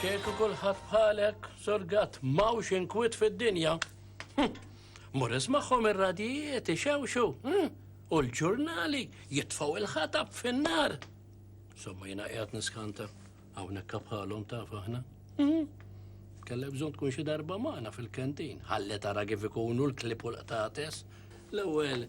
Kieku kulħadd bħalek, sorgat, mawx inkwit fid-dinja. Hm, mur ismaħħom ir-radijiet ixewxu. Hm, u l-ġurnali jitfaw il-ħatab fin-nar. Somma jina qiegħed niskanta hawnhekk bħalhom taf aħna. Hm, Kelle bżonn tkun xi darba magħna fil-kentin. Ħalli tara kif ikunu l-klip u l-qtates. L-ewwel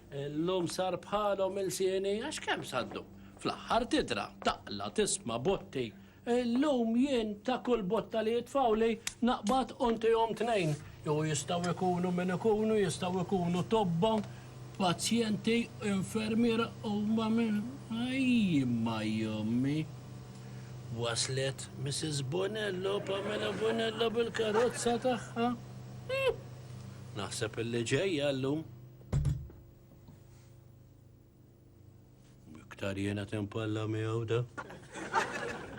Illum sar bħalhom ilsieni għax kemm saddu. Fl-aħħar tidra, taqla, tisma', botti. Illum jien ta' kull botta li jitfgħuli naqbad u ntihom tnejn. Jew jistgħu jkunu min ikunu, jistgħu jkunu tobba, pazjenti, infermiera huma min. Ajjimma jommi! Waslet Mrs. Bonello, Pamela Bonello bil-karozza tagħha. Naħseb illi ġejja llum. Iktar jena tempalla miegħu da.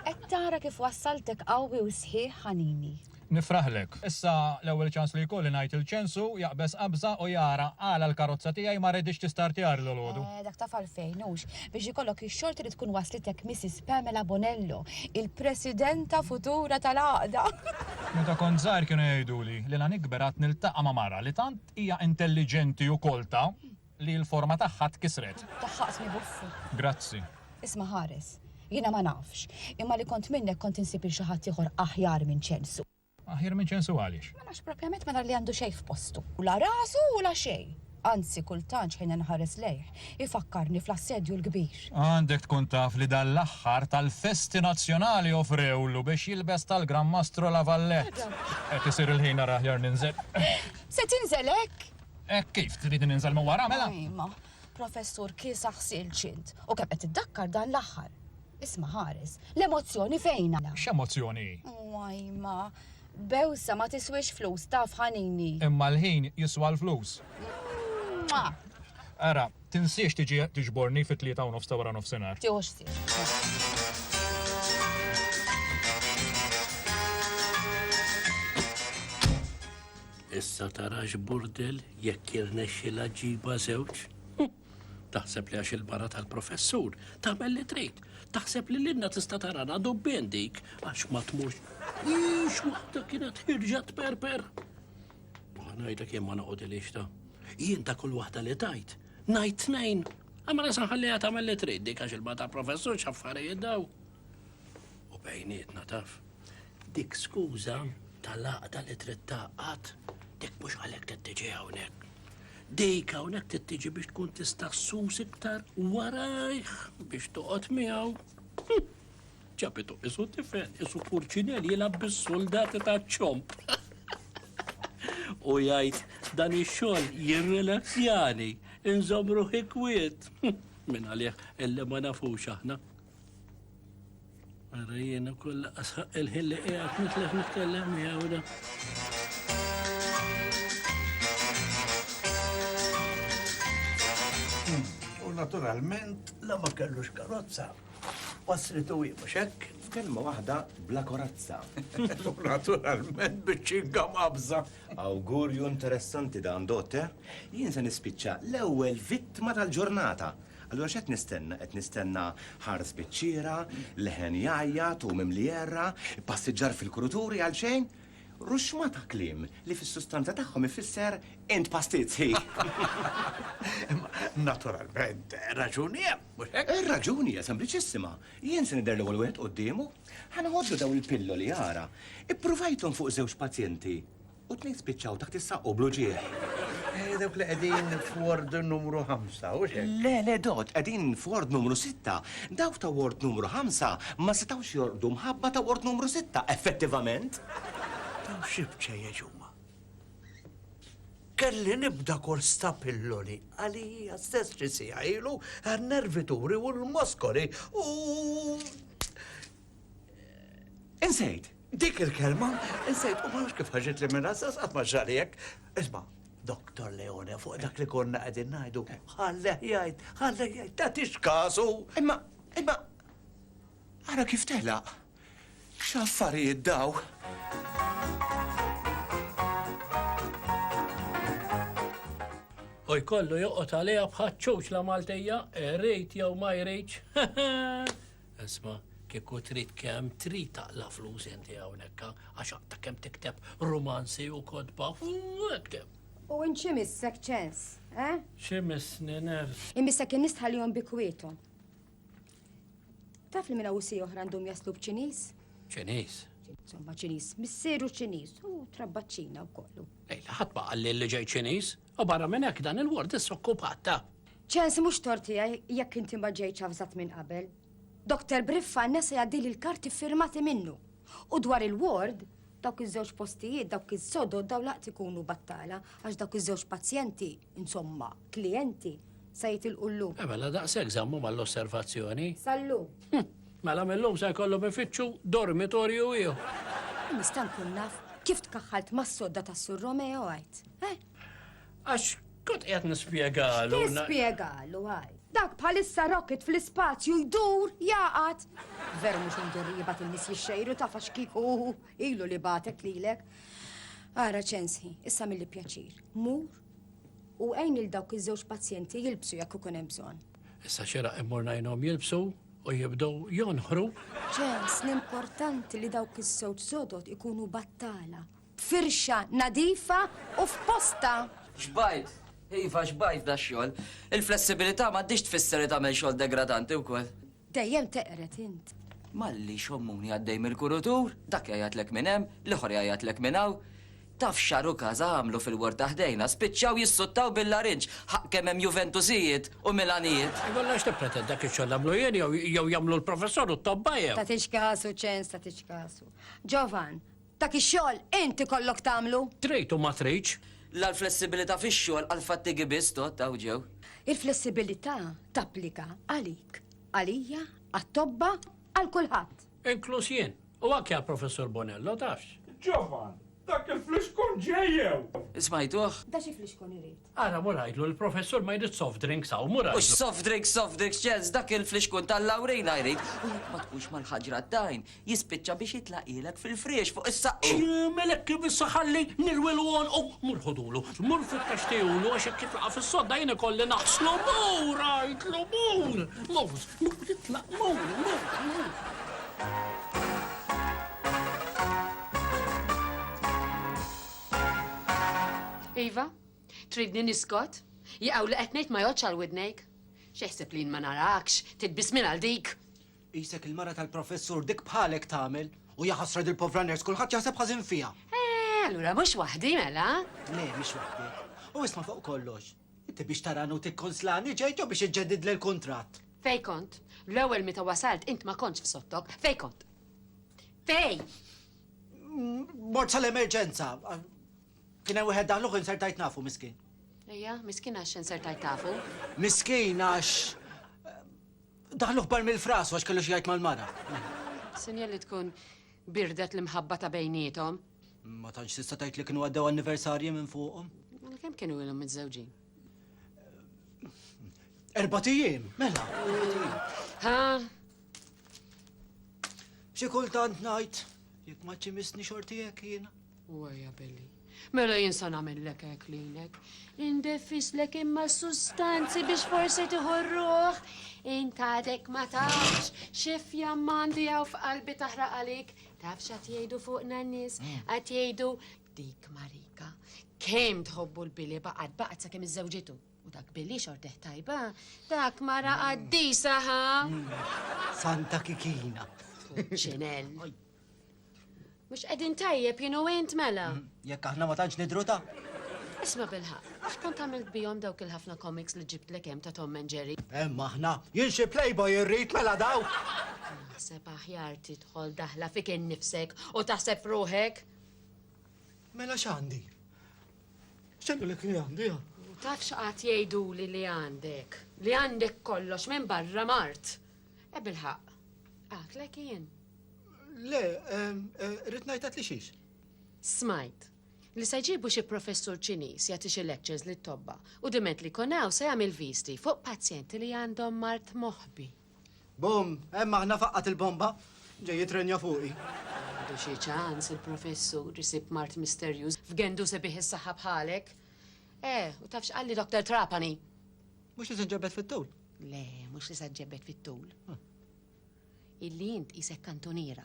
Qed tara kif wassaltek qawwi u sħiħ ħanini. Nifraħlek. Issa l-ewwel ċans li jkolli ngħid il-ċensu, jaqbeż qabża u jara għala l-karozza tiegħi ma reditx tistartjar l-għodu. Eh, dak taf għalfejn hux biex ikollok ix-xorti li tkun waslitek Mrs. Pamela Bonello, il-Presidenta futura tal-għaqda. Meta kont żgħir kienu jgħiduli li la nikber għad niltaqa' ma' mara li tant Hija intelliġenti u kolta li l-forma tagħha tkisret. Tagħha qismi buffu. Grazzi. Isma' ħares. Jiena ma nafx, imma li kont minnek kont insib 'il xi ħadd ieħor aħjar minn Ċensu. Aħjar minn Ċensu għaliex? Ma nafx, propjament ma nar li għandu xejn f'postu. La rasu u la xejn. Anzi, kultant x'ħin inħares lejh, Ifakkarni fl-Assedju l-Kbir. Għandek tkun taf li dan l-aħħar tal-festi nazzjonali offrewlu biex jilbes tal-Gran Mastru La Valette. Qed isir il-ħin ara aħjar ninżel. Se tinżel hekk? Hekk kif? Tridni ninżel minn wara mela? Imma, Professur, kiesaħ silġ int. U kemm qed iddakkar dan l-aħħar. Isma' ħares. L-emozzjoni fejn għala? X'emozzjoni hi? Wajma. Bewsa ma tiswiex flus, taf ħanini. Imma l-ħin jiswa l-flus. Mwah! Ara, tinsiex tiġi tiġborni fit-tlieta u nofs ta' wara nofsinhar. Tieħu ħsieb. Issa tara x'burdell jekk jirnexxilha ġġibha żewġ. Taħseb li għax il-mara tal-professur tagħmel li trid. Taħseb li l-inna tista' tarana dubbien dik għax ma tmux. Ix waħda kienet ħirġa tperper. Ħanajda kien ma noqgħod il ta' jien ta' kull waħda li tajt. Najt tnejn. Għamela sanħalliha tagħmel li trid dik għax il-mara tal-professur x'affarijiet daw. u bejnietna taf. Dik skuża tal-għaqda li trid taqqat, dik mhux għalhekk trid tiġi hawnhekk. Dik hawnhekk trid tiġi biex tkun tista' sus iktar warajh biex toqgħod miegħu. Hm, ċapitu isu tifel, isu purċinel jilgħab bis-soldati ta' ċomp. U jgħid dan ix-xogħol jirrilazzjani, inżomm ruħi kwiet. Hm, Min għalih illi ma nafux aħna. Għara jena kolla asħaq il-ħin li għat nitlef nitkellem miegħu da. Hmm, u naturalment la ma kellux karozza. Wasritu hi mhux hekk. F'kelma waħda bla korazza. U naturalment biċċinka mabża. Awgurju interessanti dan dotte. Jien se nispiċċa l-ewwel vittma tal-ġurnata. Allura x'qed nistenna? Qed nistenna ħars biċ-ċiera, leħen jgħajjat u mimli għerra, passiġġar fil-kruturi għal xejn, ruxxma ta' kliem li fis-sustanza tagħhom ifisser int pastizzi! Imma naturalment, raġuni hemm, mhux hekk? Ir-raġuni hija sempliċissima. Jien se nidher l-ewwel wieħed quddiemu. Ħa ngħoddu dawn il-pilloli ara. Ippruvajthom fuq żewġ pazjenti U t-tnejn spiċċaw taħt is-saqq u bl-uġigħ. Eh, dawk li qegħdin f'ward numru ħamsa, hux hekk? Le, le, Dott, qegħdin f'ward numru sitta. Dawk ta' ward numru ħamsa ma setgħux jorqdu mħabba ta' ward numru sitta, effettivament. Dawn xi bċejjeċ huma? Kelli nibda kors ta' pilloli għalija stess xi siegħa ilu għan-nervituri u l-moskoli u Insejt, dik il-kelma, insejt, u ma nafx kif ħarġet li minna sas għatma xalijek. Isma, Dr. Leone, fuq dak li konna għedin najdu, ħalleh jajt, ħalleh jajt, ta' tix kasu. Imma, imma, għara kif tela, xaffarijiet daw. U jkollu joqot għalija bħat ċuċ la Maltija, eh, rejt jew ma jrejt. Isma' kieku trid kemm trid taqla' flus inti hawnhekk għax aqta' kemm tikteb rumanzi u kotba ekteb. U int x'imissek ċens, eh? X'imissni ners? Imissek in-nies tħallihom bi kwiethom. Taf li minn awsi oħra għandhom jaslu b'Ċiniż? Ċiniż? Insomma, Ċiniż, missieru Ċiniż u trabbaċċina wkoll. Ejla, ħadd ma qalli li ġej Ċiniż. U barra minn hekk dan il-ward issa okkupat ta'. Ċensi mhux tort tiegħi jekk inti ma ġejtx avżat minn qabel. Doktor Briffa nesa jgħaddili l-karti firmati minnu. U dwar il-ward, dawk iż-żewġ postijiet, dawk iż-sodod daw laqt ikunu battala għax dawk iż-żewġ pazjenti, insomma, klijenti, sa jitilqu llum. Eh, mela daqshekk żammu mal-osservazzjoni. Sallu. Hm, mela mill-lum se jkollu bifittxu dormitorju ieħor. Nista' nkun naf kif tkaħħalt mas-sodda tas-Sur Romeo għajt. Għax kont qiegħed nispjegalu. Nispjegalu għaj. Dak bħalissa rocket fl-ispazju jdur jaqat. Veru mhux indur li jibat in-nies jixxejru ta' fax kiku ilu li batek lilek. Ara ċensi, issa mill pjaċir. Mur u għajn il dawk iż-żewġ pazjenti jilbsu jekk ikun hemm bżonn. Issa xera immur ngħinhom jilbsu u jibdew jonħru. Ċens, l-importanti li dawk iż-żewġ sodot ikunu battala Firxa nadifa u f'postha. Xbajt! Iva, xbajt dax-xogħol! Il-flessibilità m'għaddhiex tfisser li tagħmel xogħol degradanti wkoll. Dejjem teqred int. Malli xommuni għaddej mill-kurutur, dak jgħajjatlek minn hemm, l-ieħor jgħajjatlek minn hawn. Taf x'Xaru Casa għamlu fil-ward ta' ħdejna? Spiċċaw jissuttaw bil-larinġ, ħaqq kemm hemm Juventusijiet u Milanijiet! Allura x'tippreten, dak ix-xogħol nagħmlu jien jew jagħmlu l-professur u t-tobba jew? Tagħtix kasu, ċens, tagħtix kasu. Ġovan. Dak ix-xogħol int ikollok tagħmlu. Trid u ma tridx. La l-flessibilità fix-xogħol għall-fattigi biss tgħodd hawn ġew. Il-flessibilità tapplika għalik, għalija, għat-tobba, għal kulħadd. Inkluż jien. U anke għall-Professur Bonello, tafx. Ġovan, dak il-flixkun ġej jew? Smajtuh? Da xi flixkun irid? Ara mur għidlu li professur ma jridx soft drinks hawn, mur għidlu. Mhux soft drinks, soft drinks Charles, dak il-flixkun tal-lawrina jrid. U jekk ma tkunx mal-ħaġra d-dajn, jispiċċa biex jitlaqilek fil-friex fuq is-saqqi. Jagħmel hekk kif issa ħalli nirwilu għonqu. Mur ħudulu, mur fittex tihulu għax jekk jitlaqa' fis-sodda jien ikolli naħslu. Mur għidlu, mur! Mur, mur itlaq, mur, mur, mur. Iva, tridni niskot? Jaqaw li qed ngħid ma jgħodx għal widnejk. X'eħseb li jien ma narakx, titbis minn għal dik. Qisek il-mara tal-professur dik bħalek tagħmel u jaħasra dil povra ners kulħadd jaħseb ħażin fiha. Eh, allura mhux waħdi mela? Le, mhix waħdi. U isma' fuq kollox. Inti biex tarani u tikkonslani ġejt jew biex iġġedid l kuntratt Fej kont, l-ewwel meta wasalt int ma kontx f'sottok, fej kont. Fej! Mort sal-emerġenza. Kien hemm wieħed daħluh insertajt nafu miskin. Ejja, miskin għax insertajt tafu. Miskin għax eh, daħluh bar mill-fras għax kellu xi jgħid mal-mara. Sinjal li tkun birdet l-imħabba ta' bejnietom. Ma tantx tista' tgħid li kienu għaddew anniversarji minn fuqhom. Mela kemm kienu ilhom miżżewġin? Erbatijiem, mela. Ha, Xi kultant ngħid, jekk ma ċimisni xorti hekk jiena. Wajja Billy. Mela jinsa nagħmellek hekk lilek. Indefislek imma sustanzi biex forsi tiħorruh. Intadek ma tafx xi fjammandi hawn f'qalbi taħraq għalik. Tafx qed jgħidu fuq nannis, mm. qed jgħidu dik Marika. Kemm tħobbu l-bili baqgħet baqgħet sakemm iżżewġitu. U dak billi xorteħ tajba, dak mara mm. qaddisa ħa. Mm. Santa kikina. Ċinel. Mux edin tajjeb jinu int mela. Mm. Jekk aħna ma tantx nidru ta' Isma bilħa, għax kont għamilt bijom dawk il-ħafna komiks li ġibt l ta' Tom and Jerry. Hemm aħna, jien xi playboy irrid mela daw. Naħseb aħjar tidħol daħla fik innifsek u taħseb ruħek. Mela x'għandi? X'għedulek li għandi, ha? U taf x'qagħad jgħiduli li għandek? Li għandek kollox minn barra mart. E bil-ħaqq. Għatlek jien. Le, rrid ngħidlek li xiex. Smajt li se jġibu xi professur Ċiniż jagħti xi lectures lit-tobba u diment li konaw se jagħmel visti fuq pazjenti li għandhom mart moħbi. Bum, hemm aħna faqqgħet il-bomba, ġej jitrenja fuqi. Għandu xi ċans il-Professur isib mart misterjuż f'gendu sebiħ is-saħħa bħalek? Eh, u taf x'qalli Doktor Trapani? Mhux li se ġġebbed fit-tul? Le, mhux li se ġġebbed fit-tul. Illi int isek kantuniera.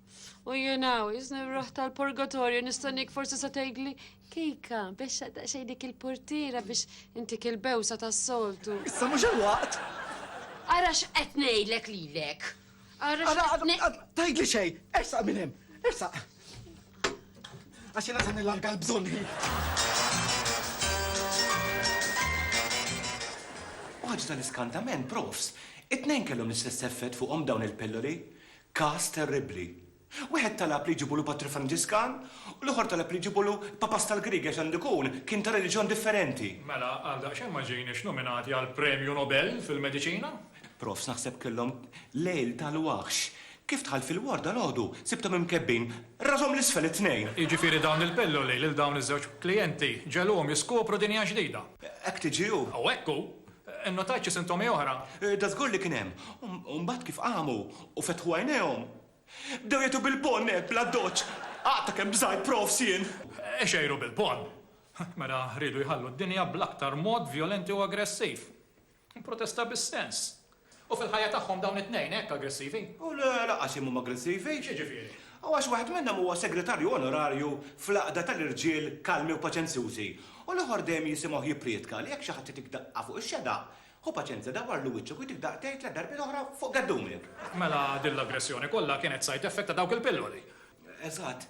U jenaw, jisni ruħ tal-purgatorju, nistanik forsi sa tgħidli kejka biex xej dik il-portira biex intik il-bewsa tas-soltu. Issa mhux il-waqt. Ara x'qed ngħidlek lilek. Ara tgħidli xej, ersaq minn hemm, ersaq. Għax jiena se nillarga l-bżonni. Għaġ tal-iskantament, profs, it-tnejn kellhom l-istess effett fuqhom dawn il-pilloli. Każ terribbli. Wieħed talab li jġibulu patri Franġiskan u l-ieħor talab li jġibulu l-Papast tal-Griegi għax għandu jkun kien ta' reliġjon differenti. Mela għal daqsxejn ma ġejniex nominati għal Premju Nobel fil-Mediċina? Profs naħseb kellhom lejl tal-waħx. Kif dħalt fil-ward dalgħodu, sibthom imkebbin rashom 'l isfel it-tnejn. Jiġifieri dawn il-pilloli lil dawn iż-żewġ klijenti ġegħluhom jiskopru dinja ġdida. Hekk tiġi hu. U hekk hu. Innotajt xi sintomi oħra? Dażgur li kien hemm. U mbagħad kif qamu u fetħu għajnejhom, bdew jgħitu bil-bonn hekk bla ddoċċ. Għaqt ta' kemm bżajt profs jien. Ixejru bil-bonn. Mela riedu jħallu d-dinja bl-aktar mod vjolenti u aggressiv. Protesta bis-sens. U fil-ħajja tagħhom dawn it-tnejn hekk aggressivi? U le, lanqas jemmhom aggressivi. X'jiġifieri? U għax waħed minnhom huwa segretarju onorarju fl-għaqda tal-irġiel kalmi u paċenzjużi, u l-oħor dejjem jisimgħuh jipprietka li jekk xi ħadd jagħtik daqqa fuq ix-xedaq, ħu paċenzja dawwarlu wiċċek u jtik daqtejn tliet darbiet oħra fuq geddumek. Mela din l-aggressjoni kollha kienet side effect ta' dawk il-pilloli? Eżatt.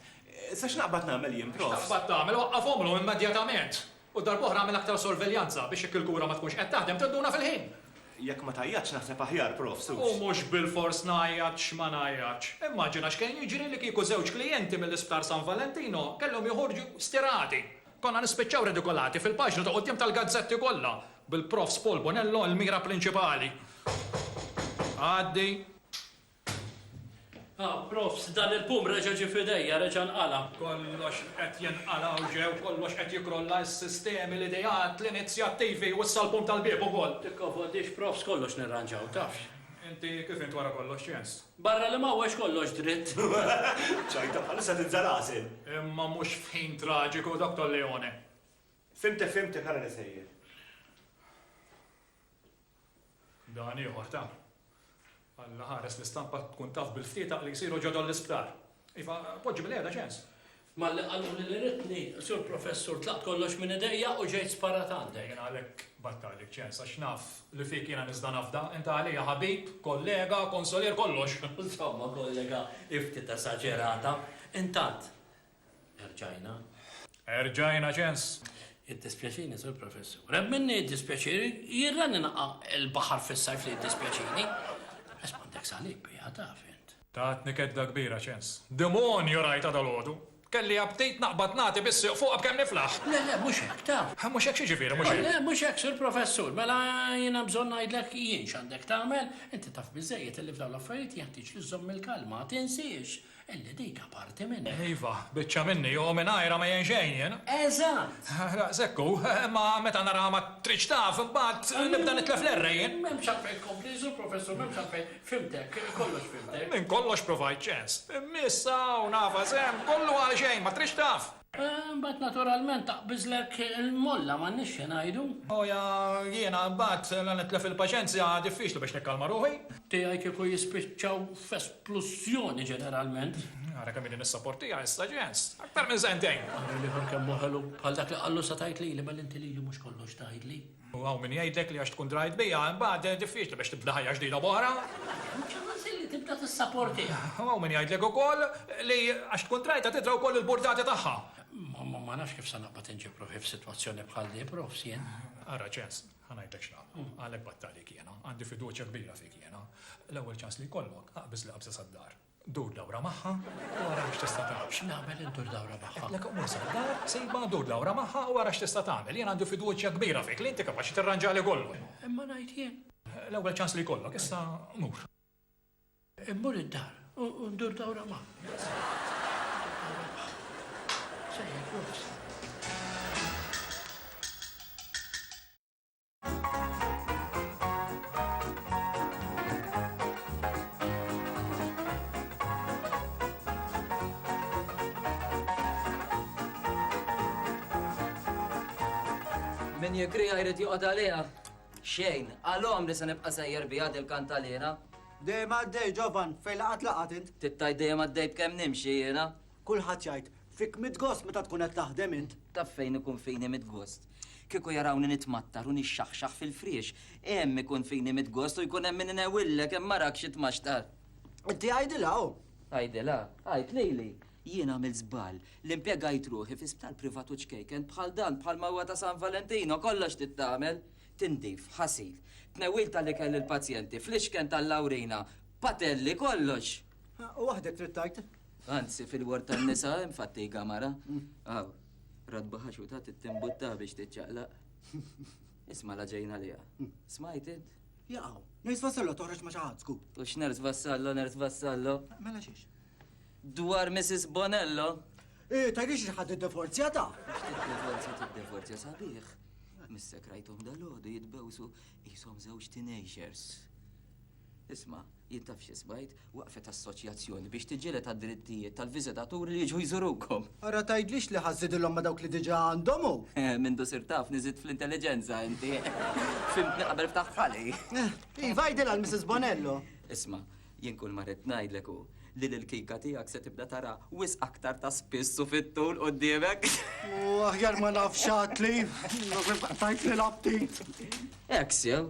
Issa x'naqbad nagħmel jien, Prof? X'taqbad tagħmel? Waqqafhomlhom immedjatament! U darb'oħra għamel aktar sorveljanza biex jekk il-kura ma tkunx qed taħdem tinduna fil-ħin. Jekk ma tgħajjatx naħseb aħjar, Prof. Suċ. U mhux bilfors ngħajjat x'ma ngħajjatx. Immaġina x'kien jiġri li kieku żewġ klijenti mill-Isptar San Valentino kellhom joħorġu stirati. Konna nispiċċaw ridikolati fil-paġni ta' quddiem tal-gazzetti kollha, bil-Profs Paul Bonello l-mira prinċipali. Għaddi. Ah, profs, dan il-pum reġa' ġie f'idejja, reġa' nqala'. Kollox qed jinqala' u ġew, kollox qed jikkrolla, is-sistemi, l-ideat, l-inizjattivi u issa l-pum tal-bieb ukoll. Tikkonfondix, profs, kollox nirranġaw, tafx. Inti kif int wara kollox, x'jens? Barra li m'hawnx kollox dritt. Ċajta bħalissa tinża' l-għasel. Imma mhux f'ħin traġiku, Dottor Leone. Fhimtek, fhimtek, ara li sejjer. Dan ieħor ta. Alla ħares l-istampa tkun taf bil-ftietaq li jsiru ġodol l-isptar. Iva, poġġi bil-qiegħda ċens. Malli qalu li l-iritni, sur professur, tlaqt kollox minn idejja u ġejt sparat għandek. Jena għalek battalik ċens, għax naf li fik jena nizda nafda, inta għalija ħabib, kollega, konsolier, kollox. Insomma, kollega, ifti ta' saġerata, intant, Erġajna. Erġajna ċens. Iddispjaċini, Sur Professur. Reb minni iddispjaċiri, jirrani naqa il-baħar fis-sajf li iddispjaċini. Esmandek salib, bija taf int. Tatni kedda kbira ċens. Demonju rajta dal-għodu. Kelli abtejt naqbad nagħti bis-siq fuq b'kemm niflaħ. Le, le, mhux hekk, taf. Mhux hekk xi ġifieri, mhux hekk? Le, mhux hekk, Sur Professur, mela jiena bżonn ngħidlek jien x'għandek tagħmel, inti taf biżejjed li f'dawn l-affarijiet jeħtieġ li żżomm il-kalma, tinsiex. Elli dik aparti minni. Iva, biċċa minni, u mingħajrha ma jgħin xejn jien. Eżatt! Daqshekk hu, imma meta naraha ma tridx taf, imbagħad nibda nitlef l-errei jien. M'hemmx għalfejn tkompli, Sur Professur, m'hemmx għalfejn. Fhimtek, kollox fhimtek. Minn kollox provajt ċens. Imma issa hawn, Ava, żemm kollu għalxejn, ma tridx taf. Imbagħad naturalment taqbiżlek il-molla, m'għandniex x'ingħidu. Boja, jiena imbagħad la nitlef il-paċenzja, diffiċli biex nikkalma ruħi. Tiegħi kieku jispiċċaw f'esplużjoni ġeneralment. Ara kemm ilni nissopportiha issa, Jens. Aktar minn sentejn! Ara l-ieħor kemm hu ħelu. Bħal dak li qallu sa tgħid lili, mela inti lili mhux kollox tgħidli. U hawn min jgħidlek li għax tkun drajt biha, imbagħad diffiċli biex tibda ħajja ġdida b'oħra. Mhux il-ħażin li tibda tissaportiha. U hawn min jgħidlek ukoll li għax tkun drajtha tidra wkoll il-burdati tagħha. Ma ma nafx kif se naqbad inġib ruħi f'sitwazzjoni bħal di, profs, jien. Ara, Ċens, ħa ngħidlek x'nagħmlu. Għalhekk battalek jiena. Għandi fiduċja kbira fik jiena. L-ewwel ċans li jkollok, aqbiż li qabża sad-dar. Dur dawra magħha u ara għax tista' tagħmel. X'nagħmel indur dawra magħha? Għedtlek qum isel id-dar, sejbha, dur dawra magħha u ara x'tista' tagħmel. Jien għandi fiduċja kbira fik li inti kapaċi tirranġali kollox. Imma ngħid jien. L-ewwel ċans li jkollok, issa mur. Immur id-dar u ndur dawra magħha. Sejjer, Min jigrija jrid joqgħod għaliha. Xejn, għalhom li se nibqa' sejjer biha dil kantalina. Dejjem għaddej ġovan, fejn laqat laqat int. Tittaj dejjem għaddej b'kemm nimxi jiena. Kulħadd jgħid, Fik mitt gost meta tkun qed taħdem int! Ta' fejn ikun fini mitt gost? Kieku jarawni nitmattar u nixxaħxaħ fil-friex, hemm ikun fini mitt gost u jkun hemm min inewwillek hemm arak xi tmaxtar! Inti għidilha hu! Għidilha? Għid lili! Jien għamilt żball li impjegajt ruħi fi sptar privat u ċkejken bħal dan bħalma huwa ta' San Valentino, kollox trid tagħmel! Tindif, ħasil, tnewwil tal-ikel lill-pazjenti, flixken tal-lawrina, patelli, kollox! U waħdek trid tajt? Anzi, fil-ward tan-nisa hemm fattiga mara. Aw, radba ħaxuta tittimbutta biex tiċċaqlaq. Isma' la ġejna liha. Smajt int? Jaqaw, ners vassallo toħroġ ma' xaħat sku. U x'ners vassallo, ners vassallo? Mela xiex? Dwar Mrs. Bonello? Eh, tajri xi ħadd id-divorzja ta'? Id-divorzja tid-divorzja sabiħ. Mis-sekrajtom dal-għodu jitbewsu jisom żewġ teenagers. Isma', jien taf xi smajt, waqfet assoċjazzjoni biex tiġġieled għad-drittijiet tal-viżitaturi li jiġu jżurukom. Ara tgħidlix li ħa żżidilhom ma' dawk li diġà għandhom hu! Mindu sirt taf li żidt fl-intelliġenza inti! Fhimtni qabel ftaħt ħalqi! Iva, għidilha għal Missis Bonello! Isma', jien kull ma ridt ngħidlek hu li lill-kika tiegħek se tibda tara wisq aktar ta' spiss u fit-tul quddiemek! Aħjar ma nafx għadli! Qtajtli l-aptit! Hekk sew,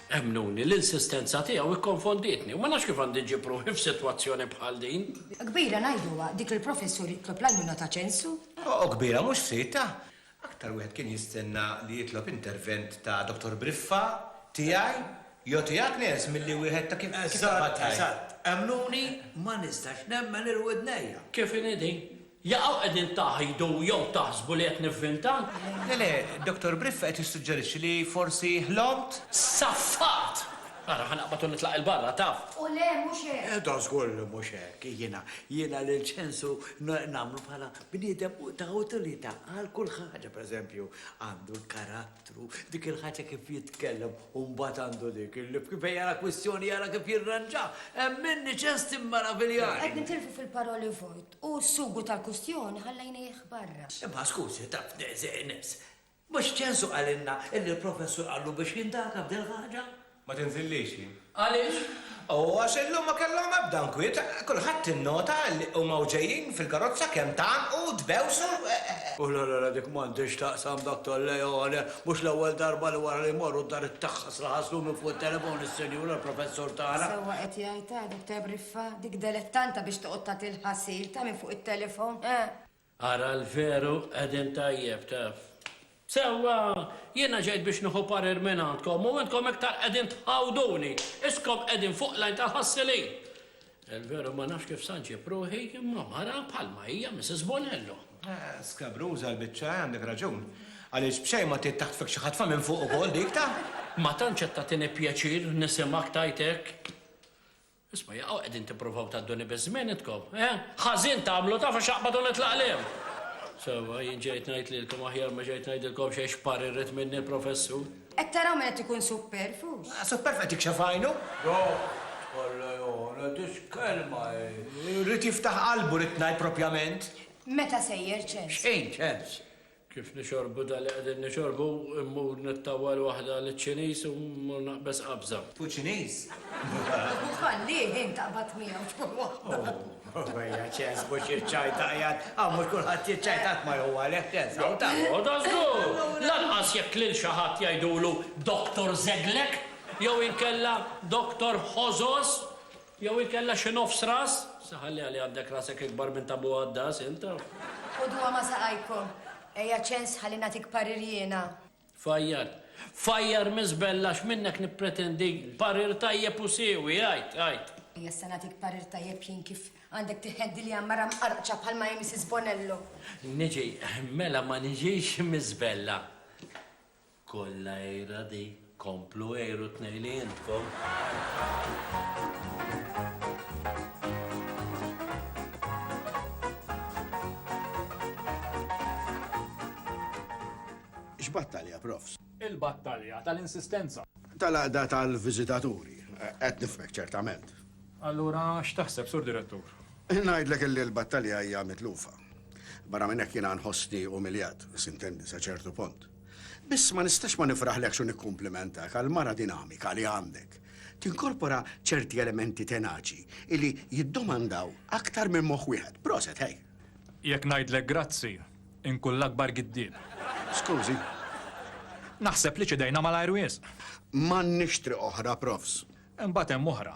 Emmnuni, l-insistenza tiegħu ikkonfondietni u ma nafx kif għandi ġġib ruħi f'sitwazzjoni bħal din. Kbira ngħiduha, dik li l-professur jitlob l-għajnuna ta' ċensu? O, kbira mhux f'sidtha! Aktar wieħed kien jistenna li jitlob intervent ta' Dottor Briffa, tiegħi, jew tiegħek Nels milli wieħed ta' kif tabat tajjeb. Eżatt, eżatt. Emmnuni, ma nistax nemmen il-widnejja. Kif inhi din? Jaqaw qegħdin taghjdu jew taħsbu li qed nivvinta? Le le, Dottor Briffa qed jissuġġerixxi li forsi ħlomt. Saffat! Ara, ħa naqbad u nitlaq 'il barra, taf. O le, mhux hekk! Edo żgur li mhux hekk. Jiena, jiena lil Ċensu nagħmlu bħala bniedem ta' utilità għal kull ħaġa. Per eżempju, għandu l-karattru, dik il-ħaġa kif jitkellem u mbagħad għandu dik il-lif kif fejn jara kwistjoni jara kif jirranġaha. Hemm minni Ċens timmaraviljani! Qed nitilfu fil-paroli vojt. U s-sugu tal-kustjoni ħallejnieh barra. Imma skużi, Daphne, żeqnibs, mhux ċensu qalilna illi l-Professur qallu biex jindaga b'dil-ħaġa? Ma tinżillix hi. Għaliex? U għax illum ma kellhom ebda nkwiet, kulħadd innota illi huma u ġejjin fil-karozza kemm tgħannqu, tbewsu, e. U l-għargħara dik m'għandha x'taqsam, Dottor Leone, mhux l-ewwel darba li wara li jmorru d-dar it-taħħasra ħaslu minn fuq it-telefon is-Sinjura l-Professur tagħna. Sewwa qed jgħidha, Dottor Fa, dik delettanta biex toqgħod tagħti l-ħasil, ta' minn fuq it-telefon, eh! Ara l-veru qegħdin tajjeb, taf. Sewwa, jiena ġejt biex nieħu parir mingħandkom u intkom iktar qegħdin tħawduni, iskom qegħdin fuq l-għajn tal-ħassilin. Il-veru ma nafx kif sa nġib ruħi imma mara bħalma hija Mrs. Bonello. Eh, skabruża l-biċċa, eh, għandek raġun. Għaliex b'xejn ma trid taħtfek xi ħatfa minn fuq ukoll dik ta'. Ma tantx qed tagħtini pjaċir nisimgħek tgħid hekk. Isma' jaqaw qegħdin tipprovaw tgħadduni biż-żmien intkom, eh? Ħażin tagħmlu taf għax aqbad u nitlaq lejhom. Sewwa, jien ġejt ngħid lilkom aħjar ma ġejt ngħidilkom xejn x'pari rrid minni l-Professur. Qed taraw min qed ikun supperfux? Supperf qed jikxef għajnu? Dawk kollha jgħona titkellma hi. Rrid jiftaħ qalbu rrid ngħid propjament. Meta sejjer ċens? X'ħin ċens? Kif nixorbu dan li qegħdin nixorbu, immur nittawwal waħda liċ-Ċiniż u mmur naqbeż qabża. Hu Ċiniż? Hu fallieh int taqbad miegħu tkun waħda. Ejja, ċens mhux jiċċajta qiegħed, hawn mhux kulħadd jiċċajta qatt ma jħu għalih ċens hawn ta'. Għoda żgur! Lanqas jekk lil xi ħadd jgħidulu Doktor Żeglek jew inkella Doktor Ħożos Jew inkella xi nofs ras? Se ħalliha li għandek rasek ikbar minn ta' Bu Għaddas int! Ħuduha ma' saqajkom. Ejja ċens ħalli nagħtik parir jiena. Fajjar. Fajjar miżbell għax minnek nippretendi parir tajjeb u siewi, għid, għid. Ejja issa nagħtik parir tajjeb jien kif għandek tiħeddi li hemm mara mqarrqċa bħalma hi Mrs. Bonello. Niġi, mela ma niġix miżbella. Kollha għira di, komplu għiru t-tnejli intkom. X'battalja, Profs? Il-battalja tal-insistenza. Tal-għaqda tal-viżitaturi. Qed nifhmek, ċertament. Allura x'taħseb, Sur Direttur? Ngħidlek illi l-battalja hija mitlufa. Barra minn hekk jiena nħossni umiljat, sintendi sa ċertu punt. Biss ma nistax ma nifraħlekx u nikkumplimentak għall-mara dinamika li għandek. Tinkorpora ċerti elementi tenaċi li jiddomandaw aktar minn moħħ wieħed. Proset, hej! Jekk ngħidlek grazzi, inkun l-akbar giddieb. Skużi. Naħseb li ċedejna malajr wisq. M'għandniex triq oħra, Profs. Imbagħad hemm oħra.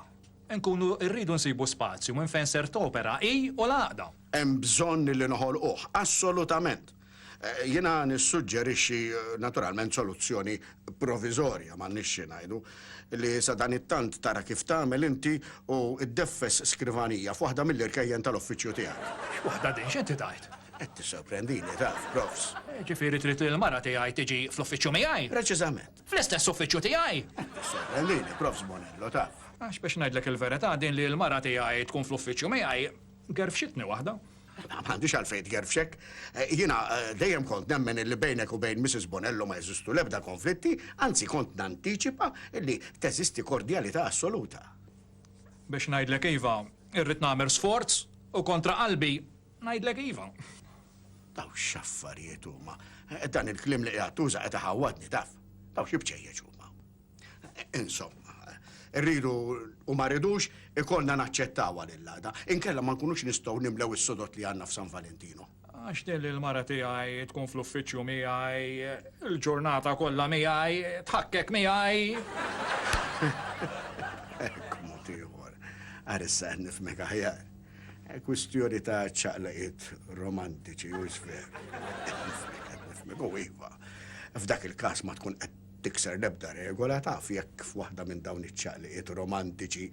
Inkunu rridu nsibu spazju minn fejn ser topera hi u l-għaqda. Hemm bżonn li noħolquh, assolutament. Jiena nissuġġerixxi naturalment soluzzjoni proviżorja, m'għandniex xi ngħidu, li sadanittant tara kif tagħmel inti u ddeffes skrivanija f'waħda mill-irkejjen tal-uffiċċju tiegħek. X'waħda din, x'inti tgħid? Qed tissorprendini, taf, Profs. Jiġifieri trid li l-mara tiegħi tiġi fl-uffiċċju miegħi? Preċiżament. Fl-istess uffiċċju tiegħi? Qed tissorprendini, Profs Bonello, taf. Għax biex ngħidlek il-verità, din li l-mara tiegħi tkun fl-uffiċċju miegħi, Gerfxitni waħda. Ma għandix għalfejn tgerfxek. Eh, jiena eh, dejjem kont nemmen li bejnek u bejn Mrs. Bonello ma jeżistu lebda konflitti, anzi kont nantiċipa li teżisti kordjalità assoluta. Biex ngħidlek iva, irrid nagħmel sforz u kontra qalbi ngħidlek iva. Daw x'affarijiet huma. Eh, dan il-klim li qiegħed tuża qed iħawwadni taf. Daw xi bċejjeġ huma. Insomma, rridu u ma rridux ikollna naċċettawha lill-għada, inkella ma nkunux nistgħu nimlew is-sodod li għandna f'San Valentinu. Għax din l-mara tiegħi tkun fl-uffiċċju miegħi, il-ġurnata kollha miegħi, tħakkek miegħi. Hekk mod ieħor. Ara issa qed nifhmek aħjar. Kwistjoni ta' ċaqlaqiet romantiċi u x'ver. Nifhmek, nifhmek, u iva. F'dak il-każ ma tkun qed tikser l-ebda regola, taf, jekk f'waħda minn dawn iċ-ċaqliqiet romantiċi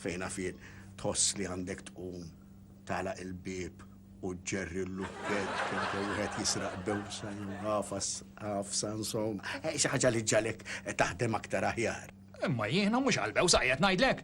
fejn naf jien tħoss li għandek tqum tagħlaq il-bieb u ġġerri l-lukkett kemm wieħed jisraq bewsa jew ħafas ħafsa insomma, xi ħaġa li ġġalek taħdem aktar aħjar. Imma jiena mhux għall-bewsa qiegħed ngħidlek.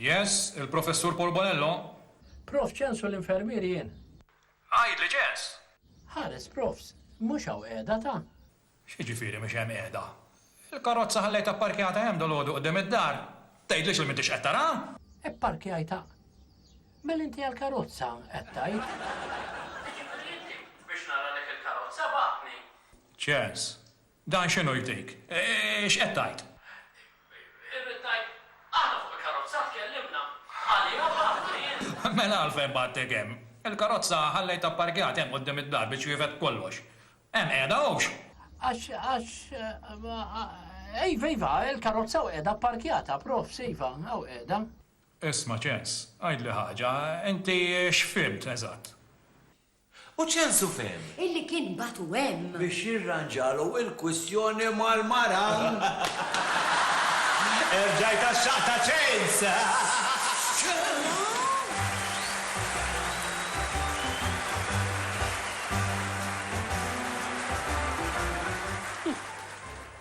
Yes, il-Professur Paul Bonello? Prof Ċens u l-infermier jien. Għidli Ċens! Ħares Profs, mhux hawn qiegħda ta? X'jiġifieri mhix hemm qiegħda? Il-karozza ħallejtha pparkjata hemm dalgħodu quddiem id-dar. Tgħidlix li m'intix qed taraha? Ipparkjajtha? Mela inti għall-karozza qed tgħid? Jiġifieri inti biex nara dik il-karozza bagħatni? Ċens, Dan x'inhu jdejk? X'qed tgħid? Irrid ngħid, aħna fuq il-karozza tkellimna għaliha bħala ħwejjeż. Mela għalfejn bgħattek hemm? Il-karozza ħallejtha pparkjata hemm quddiem id-dar biex twiefed b'kollox. Hemm qiegħda hawnx. Għax, għax, iva, iva, il-karozza hawn qiegħda pparkjata, profs, iva, hawn qiegħda. Isma', Ċens, għidli ħaġa, inti x'fhimt eżatt? U ċensu fehem. Illi kien bagħtu hemm. Biex jirranġalu il-kwistjoni mal-mara. Erġajt għax-xaqq ta' ċens!